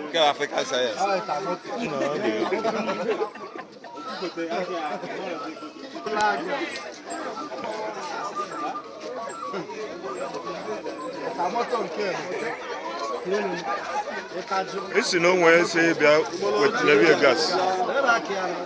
Nke a African science. esi na onwe esi bịa wetara bịa gas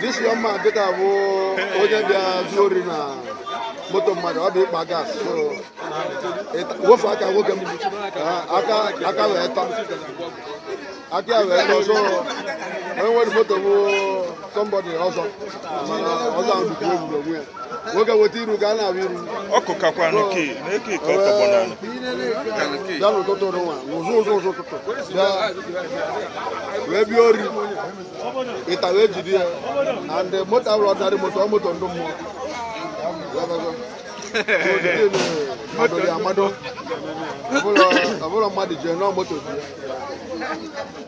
This young man dịka bụ onye bịa zuo ori na moto mmadụ ọ bụ ịkpa gas so ofu aka nwoke m aka wee tọ aka ya wee tọ so onye nwere moto bụ somebody ọzọ mana ọzọ ahụ dịkwa egwuregwu ya nwoke weta iru ka a na-ahụ iru ọkụ kakwa nke na-eke ike ọtọgbọ n'anya bịa n'ụtụtụ nwa ụzụ ụzụ ụzụ ụtụtụ bịa wee bịa ori ịta wee jide ya and moto abụrọ ordinary moto ọ moto ndị mmụọ mmadụ ya amado ọbụla mmadụ jee nọọ moto ji ya